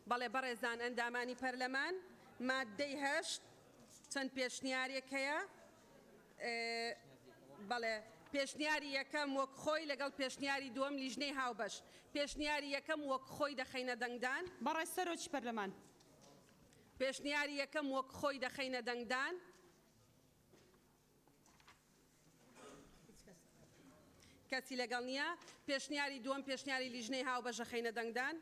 بەڵێ بەڕێزان ئەندامانی پەرلەمان، ماددەی هەشت چەند پێشنیارێک هەیە، بەڵێ پێشنیاری یەکەم وەک خۆی لەگەڵ پێشنیاری دووەم لیژنەی هاوبەش، پێشنیاری یەکەم وەک خۆی دەخەینە دەنگدان. بەڕێز سەرۆکی پەرلەمان. پێشنیاری یەکەم وەک خۆی دەخەینە دەنگدان. کەسی لەگەڵ نییە. پێشنیاری دووەم، پێشنیاری لیژنەی هاوبەشە خەینە دەنگدان.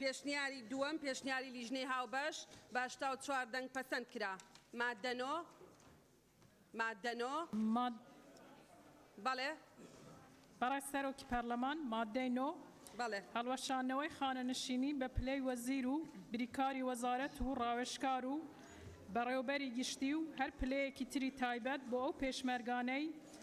پێشنیاری دووەم پێشنیاری لیژنەی هاوبەش بە هەشتا و چوار دەنگ پەسەند کرا. ماددە نۆ. ماددە نۆ. ماد. بەڵێ. بەڕێز سەرۆکی پەرلەمان، ماددەی نۆ، بەڵێ. هەڵوەشاندنەوەی خانەنشینی بە پلەی وەزیر و بریکاری وەزارەت و ڕاوێژکار و بەڕێوەبەری گشتی و هەر پلەیەکی تری تایبەت بۆ ئەو پێشمەرگانەی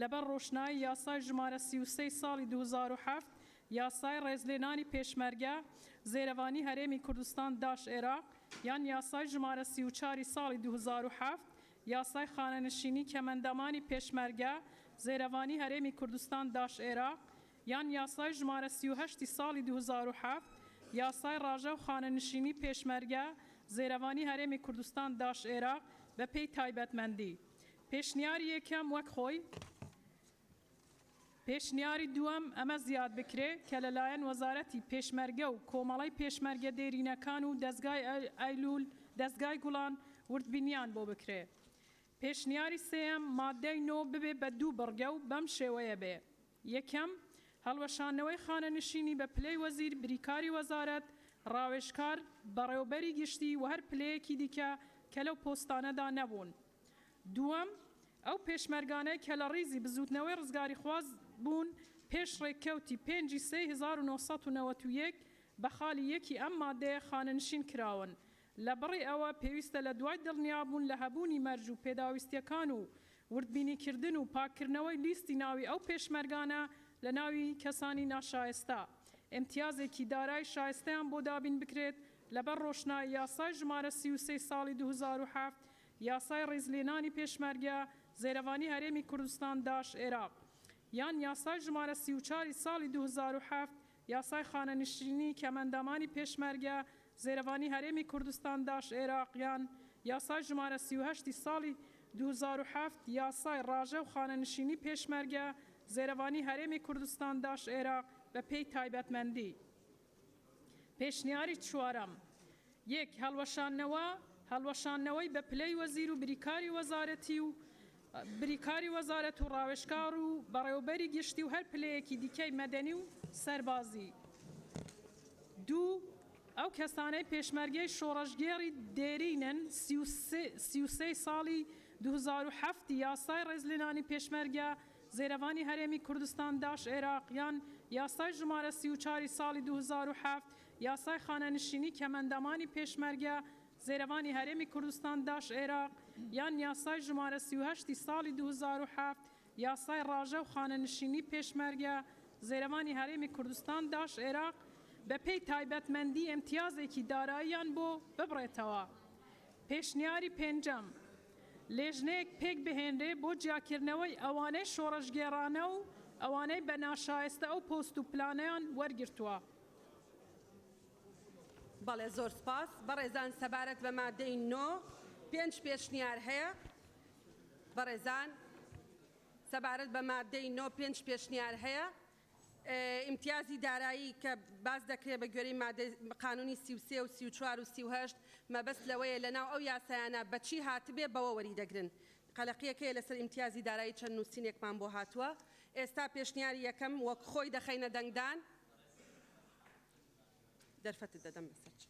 لەبەر ڕۆشنایی یاسای ژمارە سی و سێ ی ساڵی دوو هەزار و حەفت، یاسای ڕێزلێنانی پێشمەرگە، زێرەڤانی هەرێمی کوردستان، داش ئێراق، یان یاسای ژمارە سی و چوار ی ساڵی دوو هەزار و حەفت، یاسای خانەنشینی کەمئەندامانی پێشمەرگە، زێرەڤانی هەرێمی کوردستان، داش ئێراق، یان یاسای ژمارە سی و هەشت ی ساڵی دوو هەزار و حەفت، یاسای ڕاژە و خانەنشینی پێشمەرگە، زێرەڤانی هەرێمی کوردستان، داش ئێراق، بەپێی تایبەتمەندی پێشنیاری یەکەم وەک خۆی. پێشنیاری دووەم ئەمە زیاد بکرێ کە لەلایەن وەزارەتی پێشمەرگە و کۆمەڵەی پێشمەرگە دێرینەکان و دەزگای ئەیلوول، دەزگای گوڵان وردبینیان بۆ بکرێ. پێشنیاری سێیەم ماددەی نۆ ببێ بە دوو بڕگە و بەم شێوەیە بێ، یەکەم، هەڵوەشاندنەوەی خانەنشینی بە پلەی وەزیر، بریکاری وەزارەت، ڕاوێژکار، بەڕێوەبەری گشتی و هەر پلەیەکی دیکە کە لەو پۆستانەدا نەبوون. دووەم، ئەو پێشمەرگانەی کە لە ڕیزی بزووتنەوەی ڕزگاریخواز بوون پێش ڕێککەوتی پێنج ی سێی هەزار و نۆ سەد و نەوەد و یەک بە خالی یەک ی ئەم مادەیە خانەنشین کراون لە بڕی ئەوە پێویستە لە دوای دڵنیابوون لە هەبوونی مەرج و پێداویستیەکان و وردبینیکردن و پاککردنەوەی لیستی ناوی ئەو پێشمەرگانە لە ناوی کەسانی ناشایستە ئیمتیازێکی دارای شایستەیان بۆ دابین بکرێت لەبەر ڕۆشنایی یاسای ژمارە سی و سێ ی ساڵی دوو هەزار و حەفت یاسای ڕیزلێنانی پێشمەرگە، زێرەڤانی هەرێمی کوردستان، داعش، عێراق، یان یاسای ژمارە سی و چوار ی ساڵی دوو هەزار و حەفت، یاسای خانەنشینی کەمئەندامانی پێشمەرگە، زێرەڤانی هەرێمی کوردستان، داعش، عێراق، یان یاسای ژمارە سی و هەشت ی ساڵی دوو هەزار و حەفت، یاسای ڕاژە و خانەنشینی پێشمەرگە، زێرەڤانی هەرێمی کوردستان، داعش، عێراق، بەپێی تایبەتمەندی. پێشنیاری چوارەم، یەک هەڵوەشاندنەوە، هەڵوەشاندنەوەی بە پلەی وەزیر و بریکاری وەزارەتی و بریکاری وەزارەت و ڕاوێژکار و بەڕێوەبەری گشتی و هەر پلەیەکی دیکەی مەدەنی و سەربازی. دوو، ئەو کەسانەی پێشمەرگەی شۆڕشگێڕی دێرینن، سی و سێ ی ساڵی دوو هەزار و حەفت ی یاسای ڕێزلێنانی پێشمەرگە، زێرەڤانی هەرێمی کوردستان، داش عێراق، یان یاسای ژمارە سی و چار ی ساڵی دوو هەزار و حەفت، یاسای خانەنشینی کەمەندامانی پێشمەرگە، زێرەڤانی هەرێمی کوردستان، داش عێراق، یان یاسای ژمارە سی و هەشت ی ساڵی دوو هەزار و حەفت، یاسای ڕاژە و خانەنشینی پێشمەرگە، زێرەڤانی هەرێمی کوردستان، داش عێراق، بەپێی تایبەتمەندی ئیمتیازێکی داراییان بۆ ببڕێتەوە. پێشنیاری پێنجەم. لیژنەیەک پێک بهێنرێ بۆ جیاکردنەوەی ئەوانەی شۆڕشگێڕانە و ئەوانەی بە ناشایستە ئەو پۆست و پلانەیان وەرگرتووە. بەڵێ زۆر سپاس بەڕێزان سەبارەت بە مادەی نۆ پێنج پێشنیار هەیە بەڕێزان سەبارەت بە مادەی نۆ پێنج پێشنیار هەیە ئیمتیازی دارایی کە باس دەکرێت بە گوێرەی مادەی قانونی سی و سێ و سی و چوار و سی و هەشت مەبەست لەوەیە لە ناو ئەو یاسایانە بە چی هاتبێ بەوە وەری دەگرن قەلەقیەکەیە لەسەر ئیمتیازی دارایی چەند نوسینێکمان بۆ هاتوە ئێستا پێشنیاری یەکەم وەک خۆی دەخەینە دەنگدان دەرفەتت دەدەم بەسەر چ.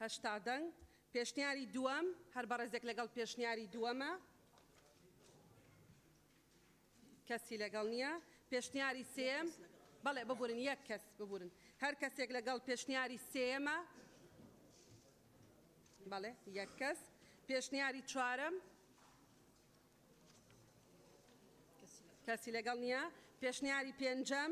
هەشتا دەنگ. پێشنیاری دووەم، هەر بەڕێزێک لەگەڵ پێشنیاری دووەمە؟ کەسی لەگەڵ نییە، پێشنیاری سێیەم. بەڵێ ببورن یەک کەس ببورن هەر کەسێک لەگەڵ پێشنیاری سێیەمە. بەڵێ یەک کەس پێشنیاری چوارەم. کەسی لەگەڵ نییە، پێشنیاری پێنجەم.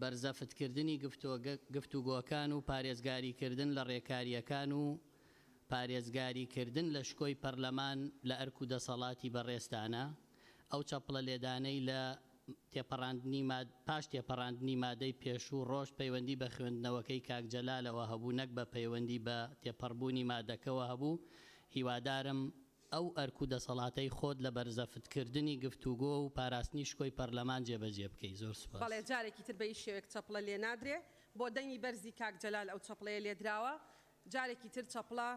بەرزەفتکردنی گفتوگۆکان و پارێزگاریکردن لە ڕێکارییەکان و پارێزگاریکردن لە شکۆی پەرلەمان لە ئەرک و دەسەڵاتی بەڕێزتانە، ئەو چەپڵە لێدانەی لە پاش تێپەڕاندنی مادەی پێشوو ڕۆشت پەیوەندی بە خوێندنەوەکەی کاک جەلالەوە هەبوو نەک بە پەیوەندی بە تێپەڕبوونی مادەکەوە هەبوو، هیوادارم ئەو ئەرک و دەسەڵاتەی خۆت لە بەرزەفت کردنی گفتوگۆ و پاراستنی شکۆی پەرلەمان جێبەجێ بکەی. زۆر سوپاس. بەڵێ جارێکی تر بەهیچ شێوەیەک چەپڵە لێ نادرێ بۆ دەنگی بەرزی کاک جەلال ئەو چەپڵەیە لێ دراوە جارێکی تر چەپڵە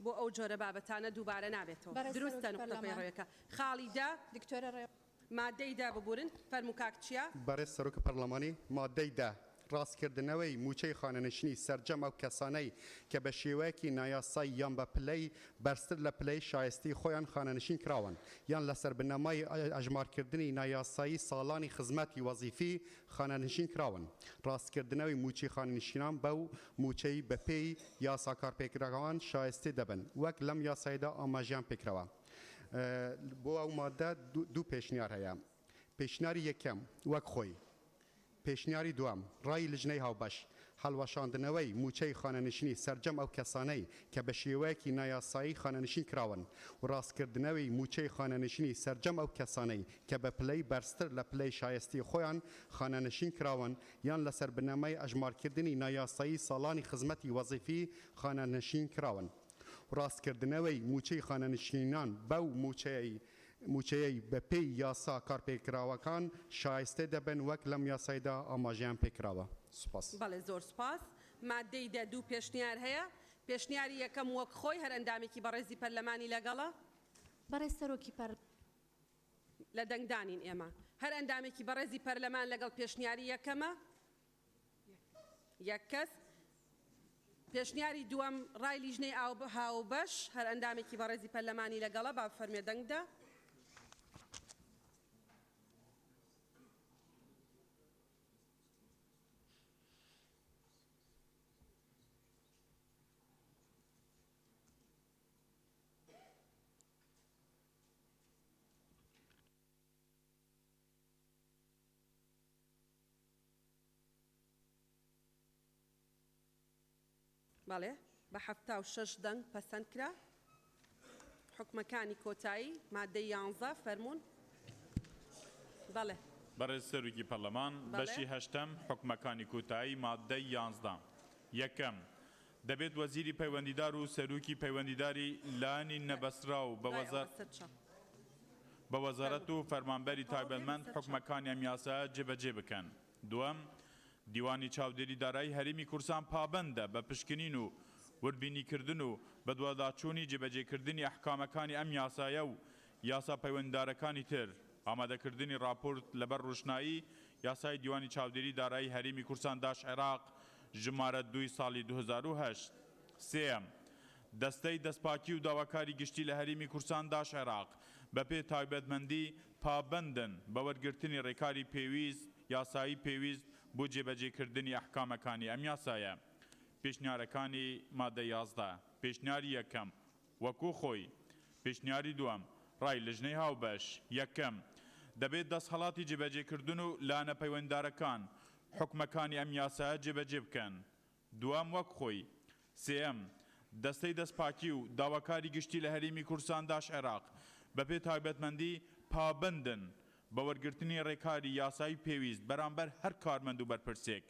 بۆ ئەو جۆرە بابەتانە دووبارە نابێتەوە بەڕێز دروستە سەرۆکی نوقتە پەرلەمان پەیڕەوێکە خاڵی دە. دکتۆرە ڕێوەش. مادەی دە ببورن فەرموو کاک چیا. بەڕێز سەرۆک پەڕڵەمانی، مادەی دە، ڕاستکردنەوەی مووچەی خانەنشینی سەرجەم ئەو کەسانەی کە بە شێوەیەکی نایاسایی یان بە پلەی بەرزتر لە پلەی شایستەی خۆیان خانەنشین کراون یان لەسەر بنەمای ئەژمارکردنی نایاسایی ساڵانی خزمەتی وەزیفی خانەنشین کراون ڕاستکردنەوەی مووچەی خانەنشینان بەو مووچەی بەپێی یاسا کارپێکراوان شایستەی دەبن وەک لەم یاسایەدا ئاماژەیان پێکراوە. بۆ ئەو ماددە دوو پێشنیار هەیە، پێشنیاری یەکەم وەک خۆی، پێشنیاری دووەم ڕای لجنەی هاوبەش، هەڵوەشاندنەوەی مووچەی خانەنشینی سەرجەم ئەو کەسانەی کە بە شێوەیەکی نایاسایی خانەنشین کراون و ڕاستکردنەوەی مووچەی خانەنشینی سەرجەم ئەو کەسانەی کە بە پلەی بەرزتر لە پلەی شایستەی خۆیان خانەنشین کراون یان لەسەر بنەمای ئەژمارکردنی نایاسایی ساڵانی خزمەتی وەزیفی خانەنشین کراون. ڕاستکردنەوەی مووچەی خانەنشینان بەو مووچەیەی مووچەیەی بەپێی یاسا کارپێکراوەکان شایستە دەبن وەک لەم یاسایدا ئاماژەیان پێکراوە. سوپاس. بەڵێ زۆر سوپاس. ماددەی دە دوو پێشنیار هەیە. پێشنیاری یەکەم وەک خۆی هەر ئەندامێکی بەڕێزی پەرلەمانی لەگەڵە؟ بەڕێز سەرۆکی پەر. لە دەنگدانین ئێمە. هەر ئەندامێکی بەڕێزی پەرلەمان لەگەڵ پێشنیاری یەکەمە؟ یەک کەس. پێشنیاری دووەم ڕای لیژنەی ئاو هاوبەش، هەر ئەندامێکی بەڕێزی پەرلەمانی لەگەڵە با بفەرموێ دەنگ بدا. بەڵێ بە حەفتا و شەش دەنگ پەسەند کرا. حوکمەکانی کۆتایی، مادەی یانزە، فەرموون. بەڵێ. بەڕێز سەرۆکی پەرلەمان، بەشی هەشتەم، حوکمەکانی کۆتایی، مادەی یانزدە. یەکەم، دەبێت وەزیری پەیوەندیدار و سەروکی پەیوەندیداری لانی نەبەستراو بە وەزارەت و فەرمانبەری تایبەتمەند حوکمەکانی ئەم یاسایە جێبەجێ بکەن. دووەم، دیوانی چاودێری دارایی هەرێمی کوردستان پابەندە بە پشکنین و وردبینیکردن و بەدواداچوونی جێبەجێکردنی ئەحکامەکانی ئەم یاسایە و یاسا پەیوەندیدارەکانی تر، ئامادەکردنی ڕاپۆرت لەبەر ڕوشنایی یاسای دیوانی چاودێری دارایی هەرێمی کوردستان داش عێراق ژمارە دووی ساڵی دوو هەزار و هەشت. سێیەم، دەستەی دەستپاکی و داواکاری گشتی لە هەرێمی کوردستان داش عێراق بەپێ تایبەتمەندی پابەندن بە وەرگرتنی ڕێکاری پێویست، یاسایی پێویست بۆ جێبەجێکردنی ئەحکامەکانی ئەم یاسایە. پێشنیارەکانی مادە یازدە. پێشنیاری یەکەم، وەکو خۆی. پیشنیاری دووەم، ڕای لجنەی هاوبەش. یەکەم، دەبێت دەستهەڵاتی جێبەجێکردن و لانە پەیوەنددارەکان، حوکمەکانی ئەم یاسایە جێبەجێ بکەن. دووەم وەک خۆی. سێیەم، دەستەی دەستپاکی و داواکاری گشتی لە هەرێمی کوردستان داش-عێراق، بەپێ تایبەتمەندی، پابەندن بە وەرگرتنی ڕێکاری یاسایی پێویست بەرامبەر هەر کارمەند و بەرپرسێک،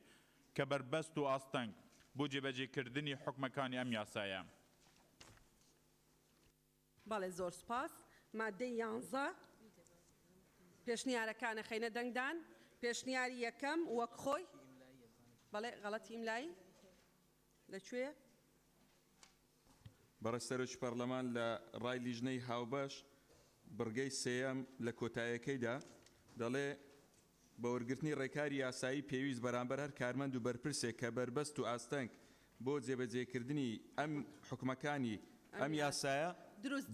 کە بەربەست و ئاستەنگ بۆ جێبەجێکردنی حوکمەکانی ئەم یاسایە. بەڵێ زۆر سوپاس. ماددەی یانزە پێشنیارەکانە خەینە دەنگدان. پێشنیاری یەکەم وەک خۆی بەڵێ غەڵەتی ئیملایی لە کوێیە؟ بەڕێز سەرۆکی پەڕلەمان لە ڕای لیژنەی هاوبەش بڕگەی سێیەم لە کۆتایەکەیدا دەڵێ بە وەرگرتنی ڕێکاری یاسایی پێویست بەرامبەر هەر کارمەند و بەرپرسێک کە بەربەست و ئاستەنگ بۆ جێبەجێکردنی ئەم حوکمەکانی ئەم یاسایە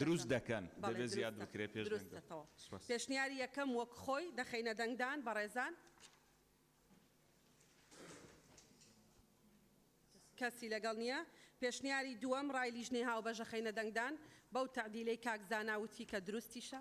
دروست دەکەن دەبێت زیاد بکرێت پێش دەنگدان. پێشنیاری یەکەم وەک خۆی دەخەینە دەنگدان بەڕێزان. کەسی لەگەڵ نییە. پێشنیاری دووەم ڕای لیژنەی هاوبەش ئەخەینە دەنگدان بەو تەعدیلەی کاک زانا وتی کە دروستیشە.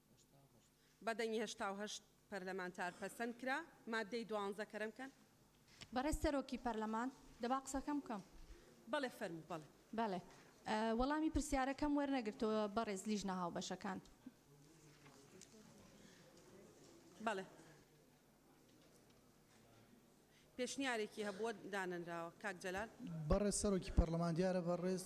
بە دەنگی هەشتا و هەشت پەرلەمانتار پەسەند کرا. ماددەی دوانزە کەرەم کەن. بەڕێز سەرۆکی پەرلەمان، دەبا قسەکەم بکەم. بەڵێ فەرموو بەڵێ. بەڵێ. وەڵامی پرسیارەکەم وەرنەگرتەوە بەڕێز لیژنە هاوبەشەکان. بەڵێ. پێشنیارێکی هەبووە دانەنراوە. کاک جەلال. بەڕێز سەرۆکی پەرلەمان دیارە بەڕێز.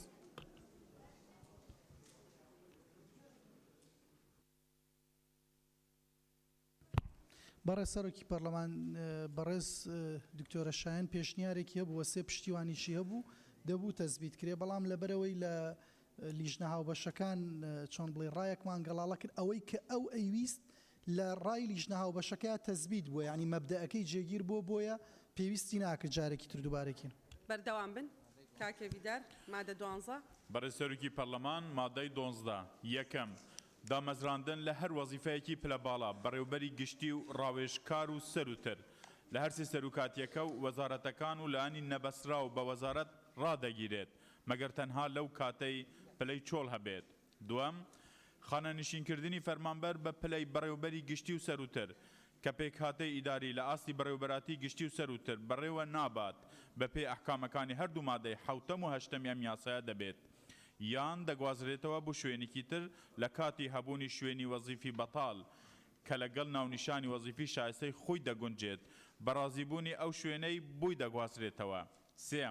بەڕێز سەرۆکی پەرلەمان بەڕێز دکتۆرە شایەن پێشنیارێکی هەبووە سێ پشتیوانیشی هەبوو دەبوو تەزبیت کرێ بەڵام لەبەرەوەی لە لیژنە هاوبەشەکان چۆن بڵێ ڕایەکمان گەڵاڵە کرد ئەوەی کە ئەو ئەیویست لە ڕای لیژنە هاوبەشەکە تەزبیت بووە ینی مەبدەەکەی جێگیر بۆ بۆیە پێویستی ناکرد جارێکی تر دووبارێکین بەردەوام بن کاکە ڤیدار، مادە دوانزە. بەڕێز سەرۆکی پەرلەمان، مادەی دۆنزدە، یەکەم، دامەزراندن لە هەر وەزیفەیەکی پلە باڵا، بەڕێوەبەری گشتی و ڕاوێژکار و سەرووتر، لە هەر سێ سەروکاتییەکە و وەزارەتەکان و لایەنی نەبەستراو بە وەزارەت ڕادەگیرێت، مەگەر تەنها لەو کاتەی پلەی چۆڵ هەبێت. دووەم، خانەنشینکردنی فەرمانبەر بە پلەی بەڕێوەبەری گشتی و سەرووتر، کە پێکهاتەی ئیداری لە ئاستی بەڕێوەبەراتیی گشتی و سەرووتر بەڕێوە نابات، بەپێی ئەحکامەکانی هەردوو مادەی حەوتەم و هەشتەمی ئەم یاسایە دەبێت، یان دەگوازرێتەوە بو شوێنیکی تر لە کاتی هەبوونی شوێنی وەزیفی بەتاڵ کە لە گەڵ ناونیشانی وەزیفی شایستەی خوی دەگونجێت بە ڕازیبوونی ئەو شوێنەی بوی دەگوازرێتەوە. سێ،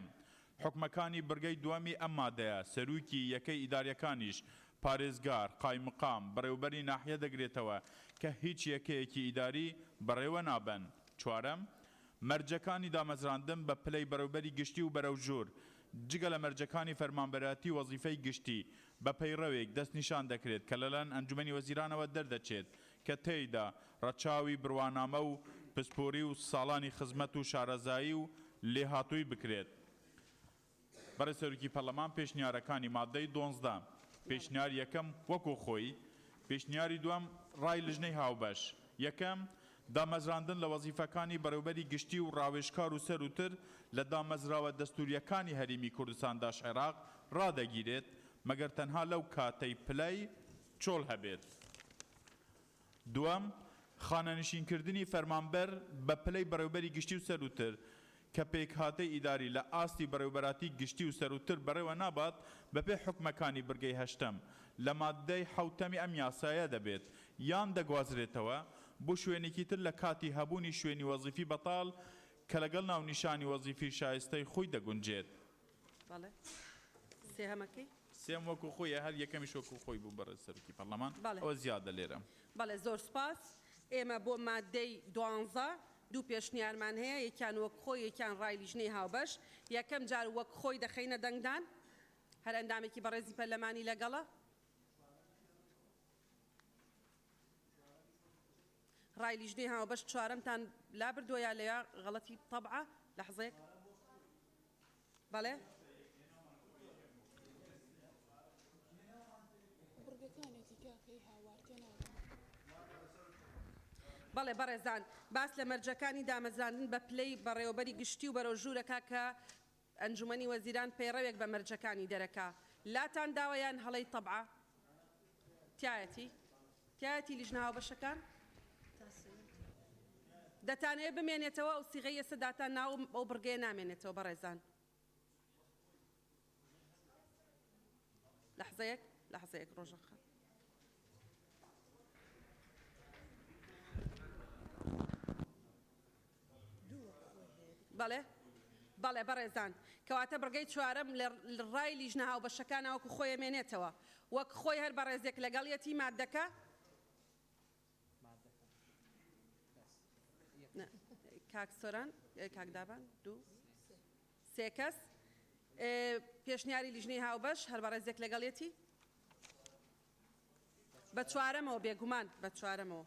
حوکمەکانی بڕگەی دووەمی ئەم مادەیە، سەروکی یەکەی ئیداریەکانیش، پارێزگار، قایمقام، بەڕێوبەری ناحیە دەگرێتەوە کە هیچ یەکەیەکی ئیداری بەڕێوە نابەن. چوارەم، مەرجەکانی دامەزراندن بە پلەی بەڕێوبەری گشتی و بەرەو ژوور، جگە لە مەرجەکانی فەرمانبەرایەتی وەزیفەی گشتی، بە پەیڕەوێک دەستنیشان دەکرێت کە لەلایەن ئەنجومەنی وەزیرانەوە دەردەچێت کە تێیدا ڕەچاوی بڕوانامە و پسپۆری و ساڵانی خزمەت و شارەزایی و لێهاتووی بکرێت. بەڕێز سەرۆکی پەرلەمان پێشنیارەکانی ماددەی دۆنزدە، پێشنیار یەکەم وەکو خۆی، پێشنیاری دووەم ڕای لجنەی هاوبەش، یەکەم، دامەزراندن لە وەزیفەکانی بەڕێوبەری گشتی و ڕاوێژکار و سەروتر لە دامەزراوە دەستورییەکانی هەریمی کوردستان داش عێراق ڕادەگیرێت مەگەر تەنها لەو کاتەی پلەی چۆڵ هەبێت. دووەم، خانەنشینکردنی فەرمانبەر بە پلەی بەڕێوبەری گشتی و سەرووتر، کە پێکهاتەی ئیداری لە ئاستی بەڕێوبەراتی گشتی و سەرووتر بەڕێوە نابات، بەپێ حوکمەکانی بڕگەی هەشتەم لە ماددەی حەوتەمی ئەم یاسایە دەبێت، یان دەگوازرێتەوە بۆ شوێنێکی تر لە کاتی هەبوونی شوێنی وەزیفی بەتاڵ کە لەگەڵ ناونیشانی وەزیفی شایستەی خۆی دەگونجێت. بەڵێ سێهەمەکەی؟ سێم وەکو خۆیە هەر یەکەمیش وەکو خۆی بوو بەڕێز سەرۆکی پەرلەمان ئەوە زیادە لێرە. بەڵێ زۆر سوپاس ئێمە بۆ ماددەی دوانزە دوو پێشنیارمان هەیە یەکیان وەک خۆی یەکیان ڕای لیژنەی هاوبەش یەکەم جار وەک خۆی دەخەینە دەنگدان هەر ئەندامێکی بەڕێزی پەرلەمانی لەگەڵە ڕای لیژنەی هاوبەش چوارەمتان لابردووە یا لە غەڵەتی تەبعە لەحزێک بەڵێ بەڕێزان باس لە مەرجەکانی دامەزراندن بە پلەی بەڕێوەبەری گشتی و بەرەو ژوورەکە کە ئەنجومەنی وەزیران پەیڕەوێک بە مەرجەکانی دەرەکە لاتان داوە یان هەڵەی طبعە؟ تیایەتی تیایەتی لیژنە هاوبەشەکان دەتانەوێت بمێنێتەوە ئەو سیغەی ئێستا داتان ناو ئەو بڕگەیە نامێنێتەوە بەڕێزان لەحزەیەک لەحزەیەک ڕۆژە خان بەڵێ بەڵێ بەڕێزان. کەواتە بڕگەی چوارەم لە ڕای لیژنە هاوبەشەکانە وەکو خۆی ئەمێنێتەوە. وەک خۆی هەر بەڕێزێک لەگەڵیەتی ماددەکە. نا کاک سۆران کاک دابان دوو سێ کەس پێشنیاری لیژنەی هاوبەش هەر بەڕێزێک لەگەڵیەتی بە چوارەمەوە بێگومان بە چوارەمەوە.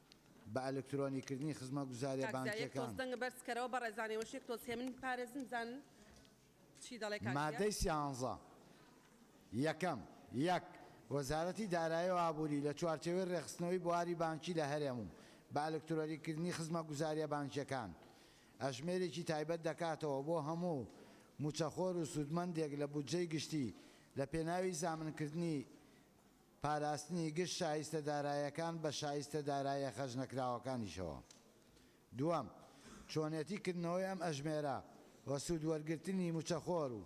بە ئەلکترۆنی کردنی خزمەگوزاریە بانکیەکان. مادەی سیانزە یەکەم یەک. وەزارەتی دارایی و ئابوری لە چوارچێوەی رێکخستنەوەی بواری بانکی لە هەرێم و بە ئەلکترۆنی کردنی خزمەگوزاریە بانکیەکان ئەژمێرێکی تایبەت دەکاتەوە بۆ هەموو موچەخۆر و سودمەندێک لە بودجەی گشتی لە پێناوی زامنکردنی پاراستنی گشت شایستە دارایەکان بە شایستە دارایە خەرجنەکراوەکانیشەوە. دووەم، چۆنێتی کردنەوەی ئەم ئەژمێرە و سوود وەرگرتنی موچەخۆر و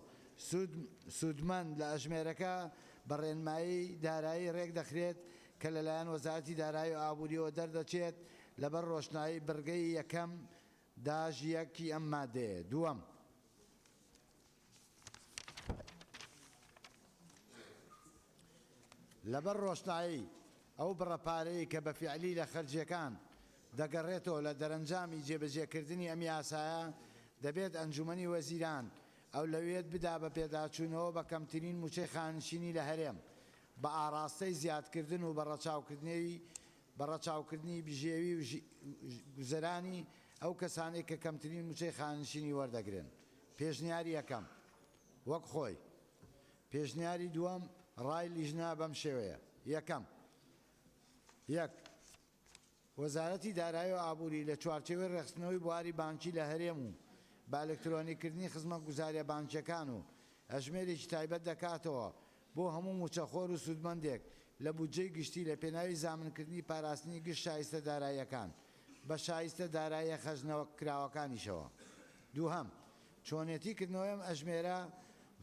سوود سوودمەند لە ئەژمێرەکە بە ڕێنمایی دارایی ڕێک دەخرێت کە لەلایەن وەزارەتی دارایی و ئابووریەوە دەردەچێت لەبەر ڕۆشنایی بڕگەی یەکەم داش یەک ی ئەم مادەیە دووەم. لەبەر ڕۆشنایی ئەو بڕە پارەی کە بە فیعلی لە خەرجییەکان دەگەڕێتەوە لە دەرەنجامی جێبەجێکردنی ئەم یاسایە، دەبێت ئەنجوومەنی وەزیران ئەولەویەت بدا بە پێداچوونەوە بە کەمترین مووچەی خانەنشینی لە هەرێم بە ئاڕاستەی زیادکردن و بە ڕەچاوکردنی بژێوی گوزەرانی ئەو کەسانەی کە کەمترین مووچەی خانەنشینی وەردەگرن. پێشنیاری یەکەم، وەک خۆی. پێشنیاری دووەم، ڕای لیژنە بەم شێوەیە. یەکەم. یەک. وەزارەتی دارایی و ئابووری لە چوارچێوەی ڕێکخستنەوەی بواری بانکی لە هەرێم و بە ئەلکترۆنیکردنی خزمەتگوزارییە بانکییەکان و ئەژمێرێکی تایبەت دەکاتەوە بۆ هەموو مووچەخۆر و سوودمەندێک لە بودجەی گشتی لە پێناوی زامنکردنی پاراستنی گشت شایستە داراییەکان بە شایستە داراییە خەرجنەوە کراوەکانیشەوە. دووهەم، چۆنێتی کردنەوەی ئەم ئەژمێرە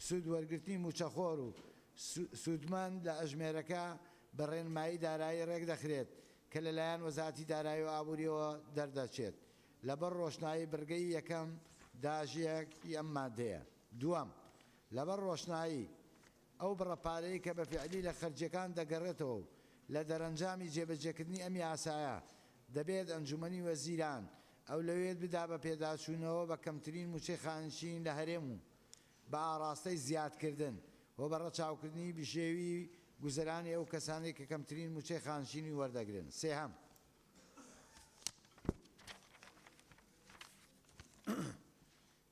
سوود وەرگرتنی مووچەخۆر و سوودمەند لە ئەژمێرەکە بە ڕێنمایی دارایی ڕێک دەخرێت کە لە لایەن وەزارەتی دارایی و ئابوورییەوە دەردەچێت لەبەر ڕۆشنایی بڕگەی یەکەم داژ یەک ی ئەم مادەیە. دووەم، لەبەر ڕۆشنایی ئەو بڕە پارەیەی کە بە فیعلی لە خەرجییەکان دەگەڕێتەوە و لە دەرەنجامی جێبەجێکردنی ئەم یاسایە دەبێت ئەنجوومەنی وەزیران ئەولەوێت بدا بە پێداچوونەوە بە کەمترین مووچەی خانەنشین لە هەرێم و بە ئاڕاستەی زیادکردن هۆ بە ڕەچاوکردنی بژێوی گوزەرانی ئەو کەسانەی کە کەمترین مووچەی خانەنشینی وەردەگرن. سێهەم.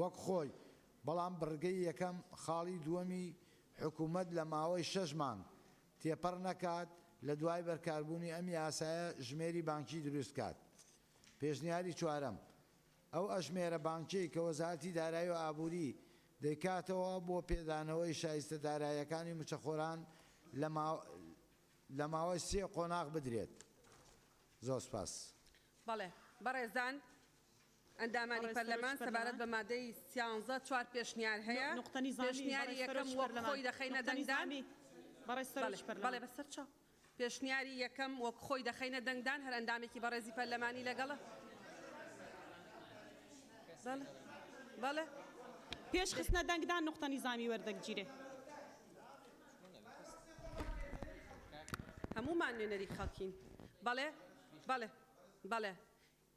وەک خۆی، بەڵام بڕگەی یەکەم خاڵی دووەمی حکوومەت لە ماوەی شەش مانگ تێپەڕ نەکات لە دوای بەرکاربوونی ئەم یاسایە ژمێری بانکی دروست کات. پێشنیاری چوارەم، ئەو ئەژمێرە بانکیەی کە وەزارەتی دارایی و ئابووری دەیکاتەوە بۆ پێدانەوەی شایستە دارایەکانی مچەخۆران لە ماوەی سێ قۆناغ بدرێت. زۆر سپاس. بەڵێ بەڕێزان ئەندامانی پەرلەمان سەبارەت بە مادەی سیانزە چوار پێشنیار هەیە، پێشنیاری یەکەم وەک خۆی دەخەینە دەنگدان، هەر ئەندامێکی بەڕێزی پەرلەمانی لەگەڵە.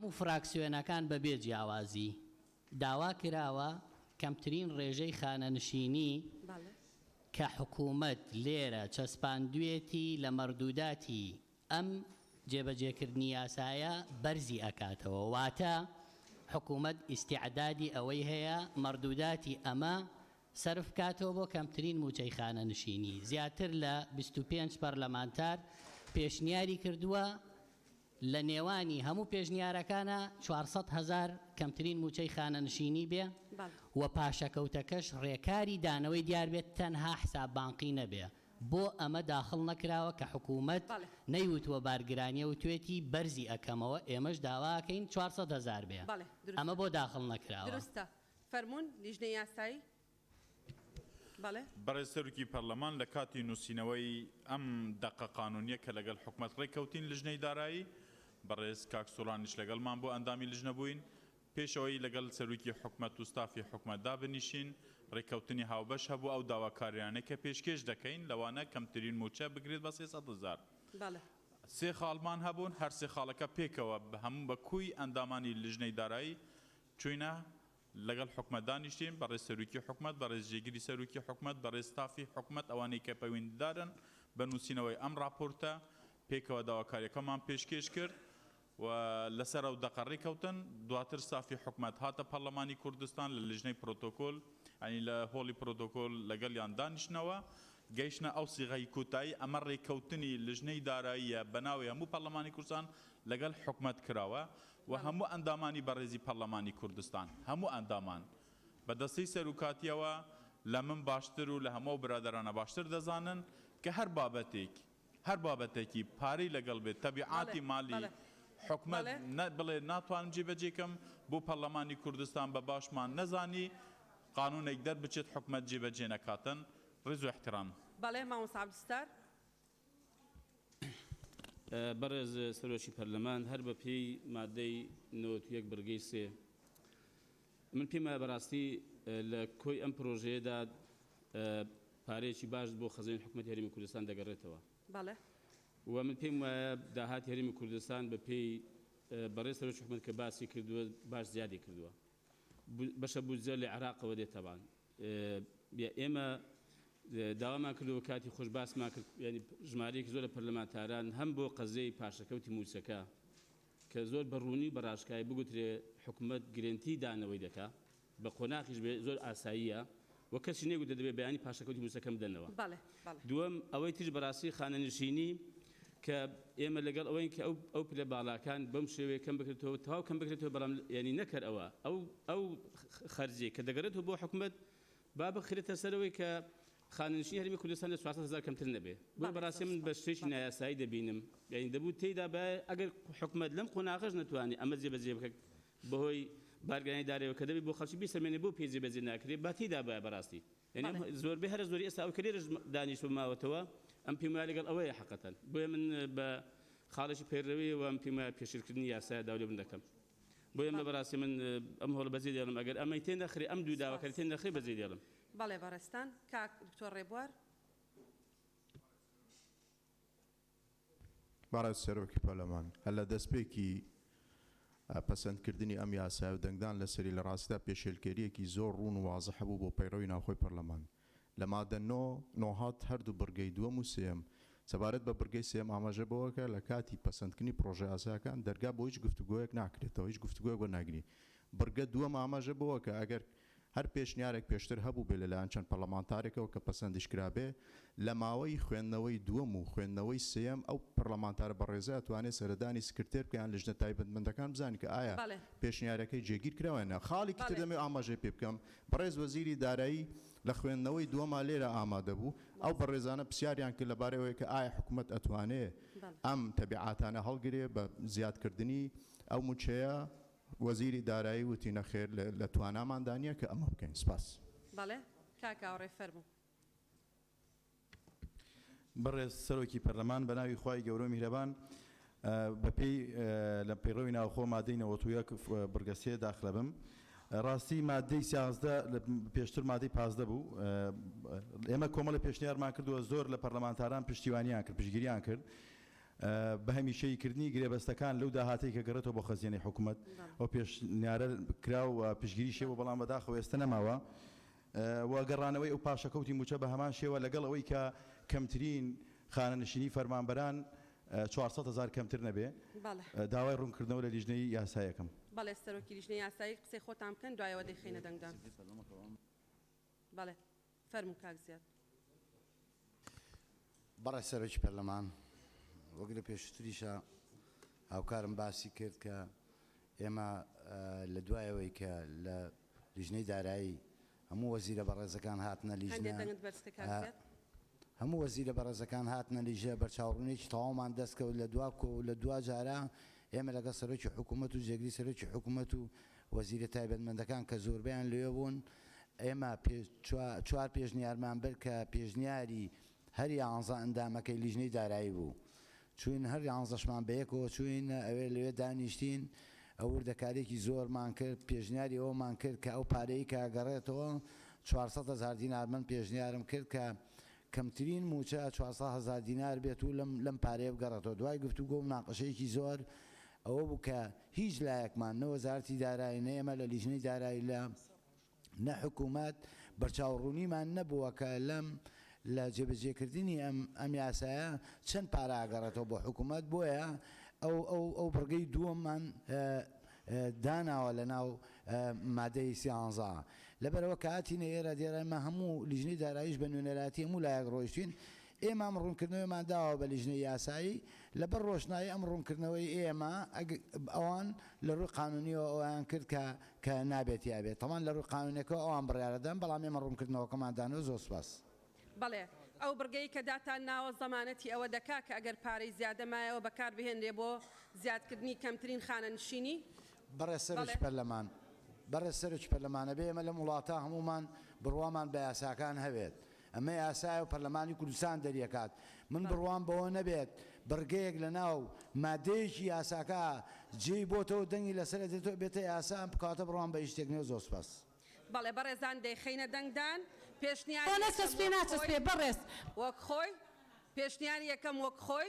هەموو فراکسیۆنەکان بەبێ جیاوازی داوا کراوە کەمترین ڕێژەی خانەنشینی کە حکوومەت لێرە چەسپاندوێتی لە مەڕدووداتی ئەم جێبەجێکردنی یاسایە بەرزی ئەکاتەوە واتە حکوومەت ئیستیعدادی ئەوەی هەیە مەڕدووداتی ئەمە سەرف بکاتەوە بۆ کەمترین مووچەی خانەنشینی، زیاتر لە بیست و پێنج پەرلەمانتار پێشنیاری کردووە، لە نێوانی هەموو پێشنیارەکانا چوار سەد هەزار کەمترین مووچەی خانەنشینی بێ و پاشەکەوتەکەش رێکاری دانەوەی دیار بێت تەنها حساب بانقی نەبێ، بۆ ئەمە داخڵ نەکراوە کە حکوومەت نەیوتووە بارگرانیە وتوێتی بەرزی ئەکەمەوە، ئێمەش داوا ئەکەین چوار سەد هەزار بێ، ئەمە بۆ داخڵ نەکراوە؟ فەرموون لیژنەی یاسایی بەڵێ. بەڕێز سەرۆکی پەرلەمان لە کاتی نووسینەوەی ئەم دەقە قانوونییە کە لەگەڵ حکومەت ڕێککەوتین لژنەی دارایی، بەڕێز کاک سۆرانیش لەگەڵمان بوو ئەندامی لژنە بووین، پێش ئەوەی لەگەڵ سەرۆکی حکومەت و ستافی حکومەت دابنیشین ڕێککەوتنی هاوبەش هەبوو ئەو داواکارییانەی کە پێشکێش دەکەین لەوانە کەمترین مووچە بگرێت بە سێ سەد هەزار، سێ خاڵمان هەبوون هەر سێ خاڵەکە پێکەوە بە هەموو بە کوی ئەندامانی لژنەی دارایی چووینە لەگەڵ حکومەت دانیشتین، بەڕێز سەروکی حکومەت، بەڕێز جێگری سەروکی حکومەت، بەڕێز ستافی حکومەت ئەوانەی کە پەیوەندیدارن بە نووسینەوەی ئەم ڕاپۆرتە پێکەوە داواکاریەکەمان پێشکێش کرد و لەسەر ئەو دەقە ڕێکەوتن، دواتر ستافی حکومەت هاتە پەڕلەمانی کوردستان لە لیژنەی پرۆتۆکۆل یانی لە هۆڵی پرۆتۆکۆل لەگەڵیان دانیشتنەوە گەیشتنە ئەو سیغەی کۆتایی ئەمە ڕێکەوتنی لیژنەی داراییە بەناوی هەموو پەڕلەمانی کوردستان لەگەڵ حکومەت کراوە. و هەموو ئەندامانی بەڕێزی پەڕلەمانی کوردستان، هەموو ئەندامان، بە دەستەی سەروکاتییەوە لە من باشتر و لە هەموو ئەو برادەرانە باشتر دەزانن کە هەر بابەتێک، هەر بابەتەکی پارەی لەگەڵ بێت، تەبیعاتی مالی حکومەت نە بڵێ ناتوانم جێبەجێ کەم، بۆ پەڕلەمانی کوردستان بە باشمان نەزانی قانوونێک دەربچێت حکومەت جێبەجێ نەکاتن. ڕێز و ئیحترام. بەڵێ مامۆستا عەبدولستار، بەڕێز سەرۆکی پەرلەمان هەر بە پێی مادەی نەوەت و یەک بڕگەی سێ من پێم وایە بەڕاستی لە کۆی ئەم پرۆژەیەدا پارەیەکی باش بۆ خەزێن حکوومەت هەرمی کوردستان دەگەڕێتەوە بەڵێ و من پێم وایە داهات هەرمی کوردستان بە پێی بەڕێز سەرۆکی حکوومەت کە باسی کردووە باش زیادی کردووە بەشە بودجە لە عێراقەوە دێت تەبان ئێمە داوامان کردەوە کاتی خۆش باسمان کرد ینی ژمارەیەکی زۆر لە پەرلەمانتاران هەم بۆ قەزیەی پاشەکەوتی موچەکە کە زۆر بەڕوونی بەڕاشکای بگوترێ حکومت گرنتی دانەوەی دەکا بە قۆناخیش بێ زۆر ئاساییە وە کەسی نەیگوتە دەبێت بەیانی پاشەکەوتی موسەکەن بدەنەوە. بەڵێ بەڵێ. دووەم، ئەوەی تریش بەڕاستی خانەنشینی کە ئێمە لەگەڵ ئەوەین کە ئەو ئەو پلە باڵاکان بەم شێوەیە کەم بکرێتەوە تەواو کەم بکرێتەوە بەڵام یانی نەکەر ئەوە ئەو ئەو خەرجیەک کە دەگەرێتەوە بۆ حکومەت با بخرێتە سەرەوەی کە خانەنشینی هەرێمی کوردستان لە چوار سەد هەزار کەمتر نەبێ بۆیە بەڕاستی من بە شتێکی نایاسایی دەبینم یانی دەبوو تێیدا با ئەگەر حکومەت لەم قۆناغەش نەتوانێ ئەمە جێبەجێ بکات بەهۆی بارگرانی دارەوە کە دەبێت بۆ خەڵکی بیسەلمێنێت بۆ پێی جێبەجێ ناکرێت با تێیدا بایە بەراستی یانی ئەم زۆربەی هەرە زۆری ئێستا ئەوەی کە لێرەش دانیشتوە ماوەتەوە ئەم پێم وایە لەگەڵ ئەوەیە حەقەتەن بۆیە من بە خاڵێکی پەیڕەویەوە ئەم پێم وایە پێشێلکردنی یاسایە داوا لێبوردن دەکەم بۆیە من بەراستی من ئەم هەوڵە بەجێ دێڵم ئەگەر ئەمەی تێ نەخرێ ئەم دوو داوا کە تێ نەخرێ بەجێ دێڵم. بەڵێ بەڕێزتان کاک دکتۆر ڕێبوار. بەڕێز سەرۆکی پەرلەمان، هەر لە دەستپێکی پەسەندکردنی ئەم یاسایە و دەنگدان لەسەری لە ڕاستیدا پێشێلکێرییەکی زۆر ڕوون و وازح بوو بۆ پەیڕەوی ناوخۆی پەرلەمان لە مادە نۆ نۆ هات هەردوو بڕگەی دووەم و سێیەم. سەبارەت بە بڕگەی سێیەم ئاماژە بەوە کە لە کاتی پەسەندکردنی پڕۆژەیاساکان دەرگا بۆ هیچ گفتوگۆیەک ناکرێتەوە، هیچ گفتوگۆیەک وەرناگری. بڕگە دووەم ئاماژە بەوە کە ئەگەر. هەر پێشنیارێک پێشتر هەبووبێ لەلایەن چەند پەڕڵەمانتارێکەوە کە پەسەندیش کرابێ، لە ماوەی خوێندنەوەی دووەم و خوێندنەوەی سێیەم ئەو پەڕڵەمانتارە بەڕێزە ئەتوانێ سەردانی سکرتێر بکە یان لجنە تایبەتمەندەکان بزانین کە ئایا پێشنیارەکەی جێگیر کراوە یان نا. خاڵێکی تر دەمەوێ ئاماژەی پێ بکەم، بەڕێز وەزیری دارایی لە خوێندنەوەی دووەما لێرە ئامادە بوو، ئەو بەڕێزانە پرسیاریان کرد لەبارەی ئەوەی کە ئایا حکومەت ئەتوانێ ئەم تەبیعاتانە هەڵگرێ بە زیادکردنی ئەو مووچەیە، وەزیری دارایی وتی، نەخێر لە تواناماندا نییە کە ئەمە بکەین. سپاس. بەڵێ کاک ئاوڕێ فەرموو. بەڕێز سەرۆکی پەرلەمان بەناوی خوای گەورەو میهرەبان بەپێی لە پەیڕەوی ناوخۆ مادەی نەوەت و یەک بڕگە سێ داخلە بم ڕاستی مادەی سیازدە پێشتر مادەی پازدە بوو ئێمە کۆمەڵی پێشنیارمان کردووە زۆر لە پەرلەمانتاران پشتیوانیان کرد پشگیریان کرد بە هەمیشەیی کردنی گرێبەستەکان لەو داهاتەی کە گەڕێتەوە بۆ خەزێنەی حکومەت ئەو پێشنیارە کرا و پشتگیریشی هەبوو بەڵام بەداخەوە ئێستا نەماوە و گەڕانەوەی ئەو پاشەکەوتی مووچە بە هەمان شێوە لەگەڵ ئەوەی کە کەمترین خانەنشینی فەرمانبەران چوار سەد هەزار کەمتر نەبێ بەڵێ داوای ڕوونکردنەوە لە لیژنەی یاسایەکەم. بەڵێ سەرۆکی لیژنەی یاسایی قسەی خۆتان بکەن دوایەوە دەیخەینە دەنگدان بەڵێ. فەرموو کاک زیاد. بەڕێز سەرۆکی پەرلەمان، وەک لە پێشووتریشە هاوکارم باسی کرد کە ئێمە لە دوای ئەوەی کە لە لیژنەی دارایی هەموو وەزیرە بەڕێزەکان هاتنە لیژنە، هەموو وەزیرە بەڕێزەکان هاتنە لیژە، بە چاوڕوونییەکی تەواومان دەست کەوت لە دوا کۆ و لە دوا جارە ئێمە لەگەڵ سەرۆکی حکوومەت و جێگری سەرۆکی حکوومەت و وەزیرە تایبەتمەندەکان کە زۆربەیان لەوێ بوون، ئێمە چوار پێشنیارمان برد کە پێشنیاری هەر یانزە ئەندامەکەی لیژنەی دارایی بوو، چووین هەر یانزەشمان بەیەکەوە چووین ئەوێ لەوێ دانیشتین و وردەکارییەکی زۆرمان کرد، پێشنیاری ئەوەمان کرد کە ئەو پارەی کە گەڕێتەوە چوار سەد هەزار دینار من پێشنیارم کرد کە کەمترین مووچە چوار سەد هەزار دینار بێت و لەم پارەیە بگەڕێتەوە، دوای گفتوگۆ و مناقەشەیەکی زۆر ئەوە بوو کە هیچ لایەکمان، نە وەزارەتی دارایی، نە ئێمە لە لیژنەی دارایی لە نە حکوومەت، بەرچاوڕوونیمان نەبووە کە لەم لە جێبەجێکردنی ئەم ئەم یاسایە چەند پارە ئەگەڕێتەوە بۆ حکوومەت، بۆیە ئەو ئەو ئەو بڕگەی دووەممان داناوە لە ناو مادەی سیانزە. لەبەرئەوە کە هاتینە ئێرە دێرە ئێمە هەموو لیژنەی داراییش بە نوێنەرایەتی هەموو لایەک ڕۆیشتین، ئێمە ئەم ڕوونکردنەوەیەمان داوە بە لیژنەی یاسایی، لەبەر ڕۆشنایی ئەم ڕوونکردنەوەی ئێمە ئەگ ئەوان لە ڕووی قانوونییەوە ئەوەیان کرد کە کە نابێت یا بێت، تەمان لە ڕووی قانوونێکەوە ئەوان بڕیارە دەدەن، بەڵام ئێمە ڕوونکردنەوەکەمان دانەوە، زۆر سپاس. بەڵێ، ئەو بڕگەی کە داتان ناوە زەمانەتی ئەوە دەکا کە ئەگەر پارەی زیادە مایەوە بەکار بهێنرێ بۆ زیادکردنی کەمترین خانەنشینی؟ بەڕێز سەرۆکی بەڵێ. پەرلەمان، بەڕێز سەرۆکی پەرلەمان ئەبێ ئێمە لەم وڵاتە هەموومان بڕوامان بە یاساکان هەبێت، ئەمە یاسایە و پەرلەمانی کوردستان دەریەکات. من بڕوام بەوە نەبێت بڕگەیەک لەناو مادەیەکی یاساکە جێی بۆتەوە دەنگی لەسەر ئەدرێتەوە ئەبێتە یاسا ئەم کاتە بڕوام بە هیچ شتێک نیە زۆر سوپاس. بەڵێ بەڕێزان دەیخەینە دەنگدان پێشنیاری یەکەم وەک خۆی. وەک خۆی. پێشنیاری یەکەم وەک خۆی.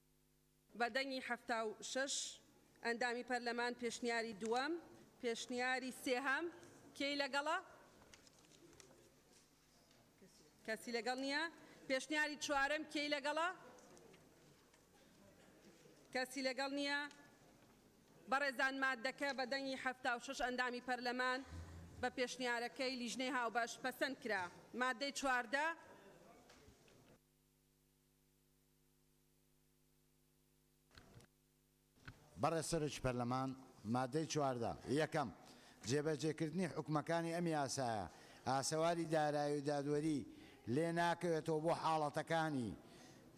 بە دەنگی حەفتا و شەش ئەندامی پەرلەمان پێشنیاری دووەم پێشنیاری سێهەم کێی لەگەڵە؟ کەسی لەگەڵ نییە پێشنیاری چوارەم کێی لەگەڵە؟ کەسی لەگەڵ نییە بەڕێزان مادەکە بە دەنگی حەفتا و شەش ئەندامی پەرلەمان بە پێشنیارەکەی لیژنەی هاوبەش پەسەند کرا مادەی چواردە بەڕێز سەرۆکی پەرلەمان، ماددەی چواردە، یەکەم، جێبەجێکردنی حوکمەکانی ئەم یاسایە، ئاسەواری دارایی و دادوەری لێ ناکەوێتەوە بۆ حاڵەتەکانی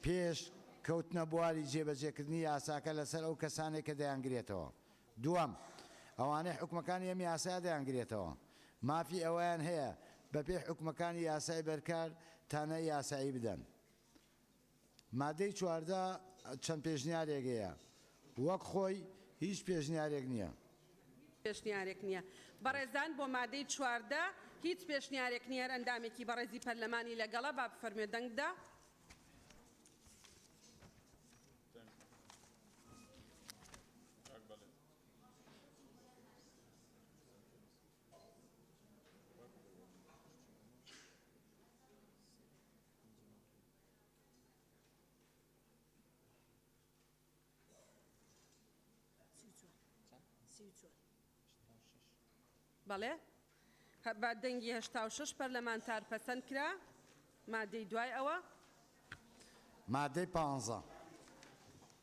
پێش کەوتنە بواری جێبەجێکردنی یاساکە لەسەر ئەو کەسانەی کە دەیانگرێتەوە. دووەم، ئەوانەی حوکمەکانی ئەم یاسایە دەیانگرێتەوە، مافی ئەوەیان هەیە بەپێی حوکمەکانی یاسای بەرکار تانە یاسایی بدەن. مادەی چواردە چەند پێشنیارێک هەیە وەک خۆی هیچ پێشنیارێک نییە. پێشنیارێک نییە بەڕێزان بۆ مادەی چواردە هیچ پێشنیارێک نییە هەر ئەندامێکی بەڕێزی پەرلەمانی لەگەڵە با بفەرموێ دەنگ بدا. بەڵێ بە دەنگی هەشتا و شەش پەرلەمانتار پەسەند کرا مادەی دوای ئەوە. مادەی پانزە.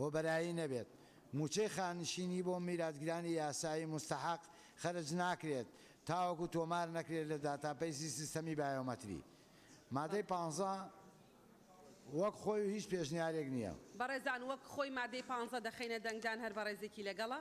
هۆبەرایی نەبێت، مووچەی خانشینی بۆ میراتگرانی یاسایی موستەحەق خەرج ناکرێت تاوەکو تۆمار نەکرێت لە داتاپەیسی سیستەمی بایۆمەتری. مادەی پانزە وەک خۆی و هیچ پێشنیارێک نییە. بەڕێزان وەک خۆی مادەی پانزە دەخەینە دەنگدان هەر بەڕێزێکی لەگەڵە؟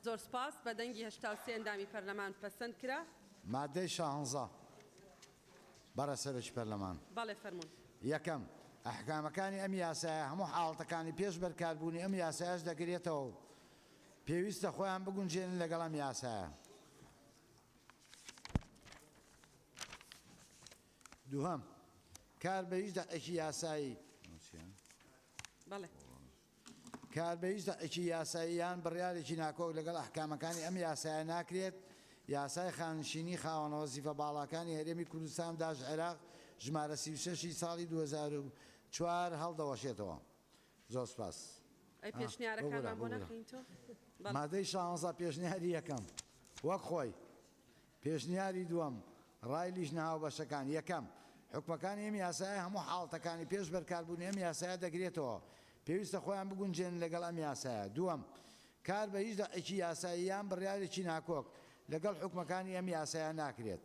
زۆر سوپاس. بە دەنگی هەشتا و سێ ئەندامی پەرلەمان پەسەند کرا. مادەی شانزە، بەڕێز سەرۆکی پەرلەمان. بەڵێ فەرموون. یەکەم، ئەحکامەکانی ئەم یاسایە هەموو حاڵەتەکانی پێش بەرکاربوونی ئەم یاسایەش دەگرێتەوە و، پێویستە خۆیان بگونجێنن لەگەڵ ئەم یاسایە. دووهەم، کار بە هیچ دەقێکی یاسایی. کار بە هیچ دەقێکی یاسایی یان بڕیارێکی ناکۆک لەگەڵ ئەحکامەکانی ئەم یاسایە ناکرێت، یاسای خانشینی خاوەن وەزیفە باڵاکانی هەرێمی کوردستان داش عێراق ژمارە سی و شەش ی ساڵی دوو هەزار و چوار هەڵدەوەشێتەوە. زۆر سپاس ئەی ها پێشنیارەکانمان بۆ بۆ گورە ناخەین تۆ؟ بەڵێ. مادەی شانزە پێشنیاری یەکەم وەک خۆی پێشنیاری دووەم ڕای لیژنە هاوبەشەکان یەکەم حوکمەکانی ئەم یاسایە هەموو حاڵتەکانی پێش بەرکاربوونی ئەم یاسایە دەگرێتەوە پێویستە خۆیان بگونجێنن لەگەڵ ئەم یاسایە دووەم کار بە هیچ دە ەقێکی یاسایی یان بڕیارێکی ناکۆک لەگەڵ حوکمەکانی ئەم یاسایە ناکرێت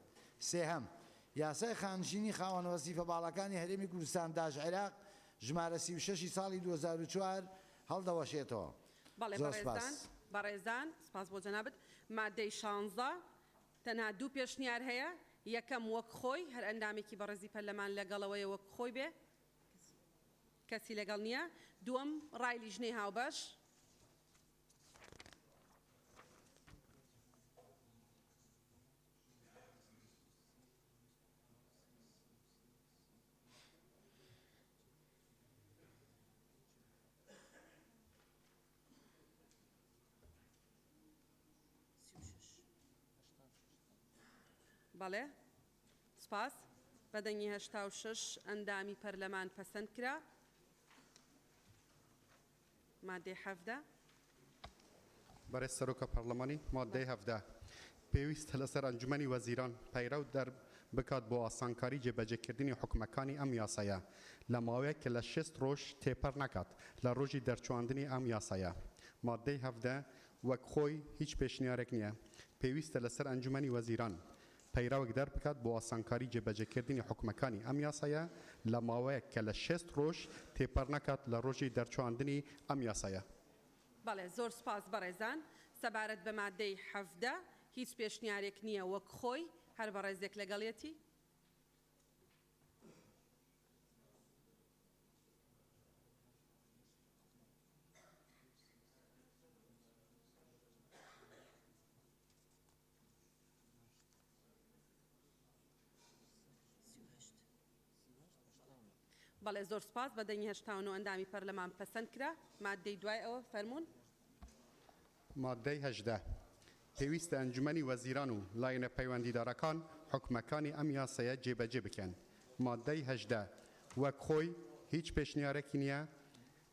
سێهەم یاسای خانشینی خاوەن وەزیفە باڵاکانی هەرێمی کوردستان داش عێراق ژمارە سی و شەش ی ساڵی دوو هەزار و چوار هەڵدەوەشێتەوە. بەڵێ زۆر سپاس. بەڕێزان، بەڕێزان، سپاس بۆ جەنابت. ماددەی شانزە تەنها دوو پێشنیار هەیە، یەکەم وەک خۆی، هەر ئەندامێکی بەڕێزی پەرلەمان لەگەڵەوەیە وەک خۆی بێ، کەسی لەگەڵ نییە، دووەم ڕای لیژنەی هاوبەش. بەڵێ. سپاس. بە دەنگی هەشتا و شەش ئەندامی پەرلەمان پەسەندکرا. مادەی حەڤدە. بەڕێز سەرۆکە پەڕڵەمانی، مادەی حەڤدە پێویستە لەسەر ئەنجومەنی وەزیران پەیڕەو دەربکات بۆ ئاسانکاری جێبەجێکردنی حوکمەکانی ئەم یاسایە لە ماوەیەک کە لە شێست ڕۆژ تێپەڕ نەکات لە ڕۆژی دەرچواندنی ئەم یاسایە. مادەی حەڤدە وەک خۆی هیچ پێشنیارێک نییە، پێویستە لەسەر ئەنجومەنی وەزیران پەیڕەوێک دەربکات بۆ ئاسانکاری جێبەجێکردنی حوکمەکانی ئەم یاسایە لە ماوەیەک کە لە شێست ڕۆژ تێپەڕنەکات لە ڕۆژی دەرچواندنی ئەم یاسایە. بەڵێ، زۆر سوپاس بەڕێزان. سەبارەت بە ماددەی حەڤدە، هیچ پێشنیارێک نییە وەک خۆی، هەر بەڕێزێک لەگەڵیەتی؟ بەڵێ زۆر سوپاس بە دەنگی هەشتا و نۆ ئەندامی پەرلەمان پەسەند کرا ماددەی دوای ئەوە فەرموون. ماددەی هەژدە. پێویستە ئەنجومەنی وەزیران و لایەنە پەیوەندیدارەکان حوکمەکانی ئەم یاسایە جێبەجێ بکەن. ماددەی هەژدە وەک خۆی هیچ پێشنیارێکی نییە،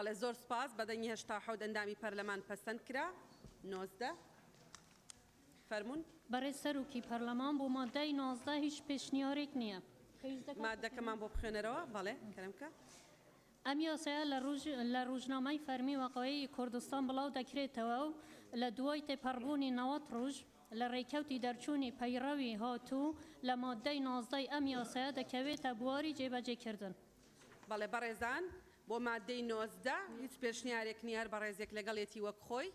بەڵێ زۆر سپاس بە دەنگی هەشتا حەوت ئەندامی پەرلەمان پەسەند کرا نۆزدە فەرمونون بەڕێز سەرۆکی پەرلەمان بۆ مادای نۆزدە هیچ پێشنیارێک نییە مادەکەمان بۆ بخێنەرەوە بەڵێ کەرمکە ئەم یاسایە لە رووژنامەی فەرمی وەقەیعی کوردستان بڵاو دەکرێتەوە و لە دوای تێپەڕبوونی نەوەد رووژ لە رێکەوتی دەرچوونی پەیڕەوی هاتوو لە ماددەی نۆزدەی ئەم یاسایە دەکەوێتە بواری جێبەجێکردن. بەڵێ بەڕێزان بۆ ماددەی نۆزدە هیچ پێشنیارێک نییە، هەر بەڕێزێک لەگەڵێتی وەک خۆی.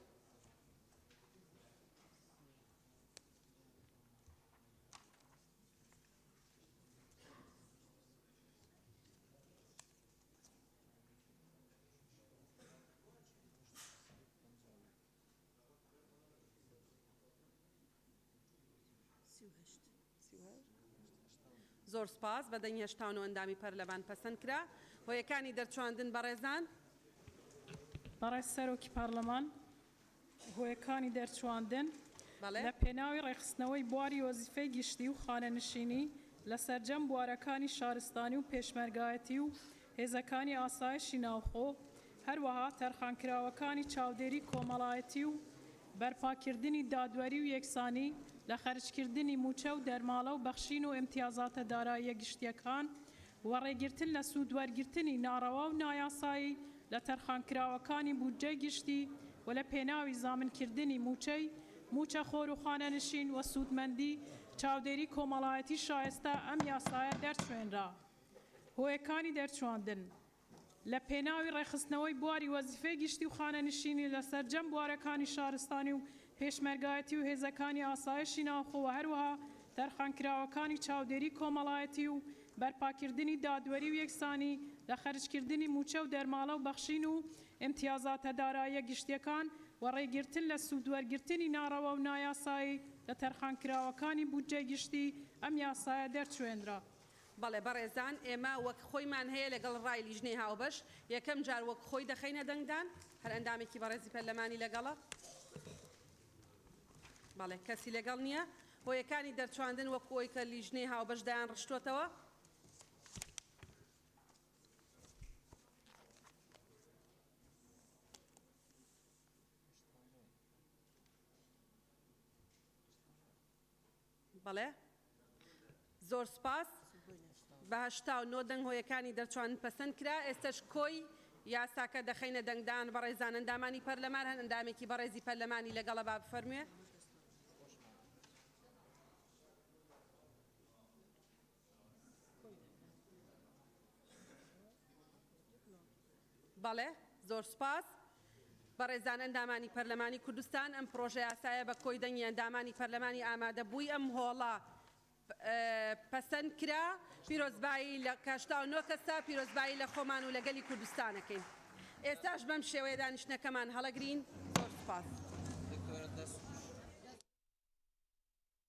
زۆر سپاس بە دەنگ هێشتاون و ئەندامی پەرلەمان پەسەند کرا هۆیەکانی دەرچواندن بەڕێزان. بەڕێز سەرۆکی پارلمان هۆیەکانی دەرچواندن، لە پێناوی ڕێکخستنەوەی بواری وەزیفەی گشتی و خانەنشینی لە سەرجەم بوارەکانی شارستانی و پێشمەرگایەتی و هێزەکانی ئاسایشی ناوخۆ، هەروەها تەرخانکراوەکانی چاودێری کۆمەڵایەتی و بەرپاکردنی دادوەری و یەکسانی لە خەرجکردنی مووچە و دەرماڵە و بەخشین و ئیمتیازاتە داراییە گشتییەکان وەڕێگرتن لە سوودوەرگرتنی ناڕەوا و نایاسایی لە تەرخانکراوەکانی بودجەی گشتی و لە پێناوی زامنکردنی مووچەی مووچەخۆر و خانەنشین و سوودمەندی چاودێری کۆمەڵایەتی شایستە ئەم یاسایە دەرچوێنرا هۆیەکانی دەرچواندن لە پێناوی ڕێکخستنەوەی بواری وەزیفەی گشتی و خانەنشینی لە سەرجەم بوارەکانی شارستانی و پێشمەرگایەتی و هێزەکانی ئاسایشی ناوخۆ و هەروەها تەرخانکراوەکانی چاودێری کۆمەڵایەتی و بەرپاکردنی دادوەری و یەکسانی لە خەرجکردنی مووچە و دەرماڵە و بەخشین و ئیمتیازاتە داراییە گشتیەکان و ڕێگرتن لە سوودوەرگرتنی ناڕەوا و نایاسایی لە تەرخانکراوەکانی بودجەی گشتی ئەم یاسایە دەرچوێنرا بەڵێ بەڕێزان، ئێمە وەک خۆیمان هەیە لەگەڵ ڕای لیژنەی هاوبەش، یەکەم جار وەک خۆی دەخەینە دەنگدان، هەر ئەندامێکی بەڕێزی پەرلەمانی لەگەڵە؟ بەڵێ، کەسی لەگەڵ نییە. هۆیەکانی دەرچواندن وەک ئەوەی کە لیژنەی هاوبەش دایانڕشتووەتەوە. بەڵێ زۆر سوپاس. بە هەشتا و نۆ دەنگ هۆیەکانی دەرچوان پەسەند کرا، ئێستەش کۆی یاساکە دەخەینە دەنگدان بەڕێزان ئەندامانی پەرلەمان هەن ئەندامێکی بەڕێزی پەرلەمانی لەگەڵە با بفەرموێ. بەڵێ، زۆر سوپاس. بەڕێزان ئەندامانی پەرلەمانی کوردستان، ئەم پڕۆژەیاسایە بە کۆی دەنگی ئەندامانی پەرلەمانی ئامادەبووی ئەم هۆڵە پەسەند کرا. پیرۆزبایی لە کە هەشتا و نۆ کەسە، پیرۆزبایی لە خۆمان و لە گەلی کوردستان ئەکەین. ئێستاش بەم شێوەیە دانیشتنەکەمان هەڵەگرین. زۆر سوپاس.